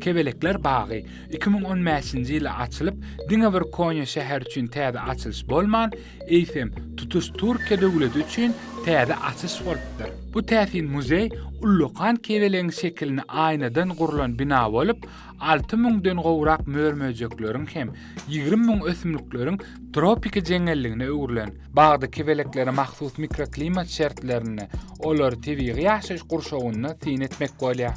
Kebelekler bagy iki müň on bäşinji ýyly açylyp, diňe bir Konýa şäheri üçin täze açylyş bolman, eýsem, tutuş Türkiýe döwleti üçin täze açyş bolupdyr. Bu täsin muzeý ullakan kebelegiň şekilini aýnadan gurlan bina bolup, alty müňden gowrak mör-möjekleriň hem ýigrimi müň ösümlikleriň tropiki jeňňelligine öwrülen. Bagda kebeleklere mahsus mikroklimat şertlerinde olary tebigy ýaşaýyş gurşawynda syn etmek bolýar.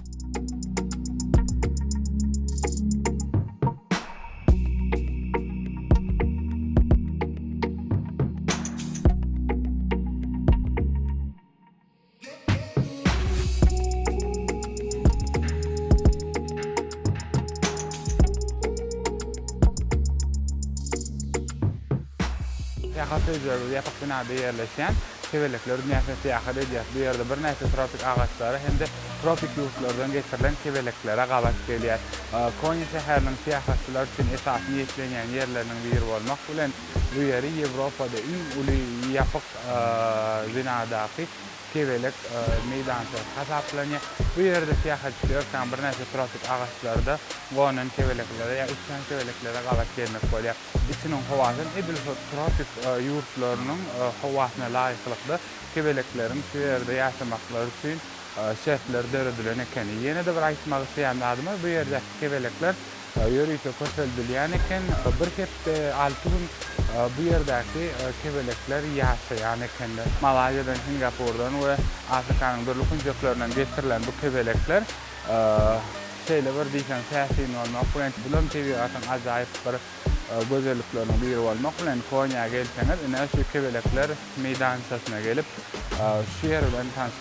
Syýahat ediyoruz. Ýapyk binada ýerleşýän Kebelekler dünýäsine syýahat edýäs. Bu ýerde birnäçe tropik agaçlara hem-de tropik ýurtlardan getirilen kebeleklere gabat gelýäs. Konya şäheriniň syýahatçylar üçin esasy niýetlenýän ýerleriniň biri bolmak bilen, Bu ýeri Ýewropada iň uly ýapyk binadaky kebelek meýdançasy hasaplanýar. Bu ýerde syýahatçy örkän birnäçe tropik agaçlarda gonan kebeleklere ýa uçýan kebeleklere gabat gelmek bolýar. Içiniň howasy hem edil şol tropik ýurtlarynyň howasyna laýyklykda kebelekleriň şu ýerde ýaşamaklary üçin şertler döredilen ekeni. Ýene-de bir aýtmak isleýän zadym bar, bu ýerdäki kebelekler Ýörite köpeldilýän eken. Bir hepde, alty gün bu ýerdäki kebelekler ýaşaýan ekenler. Malaýziýadan, Singapurdan we Afrikanyň dürli künjeklerinden getirilen bu kebelekler şeýle bir diýseň täsin bolmak bilen, bulam tebigatyň ajaýyp bir gözellikleriniň biri bolmak bilen, Konýa gelseňiz, ine, şu kebelekler meýdançasyna gelip, şu ýer bilen tanyşyp,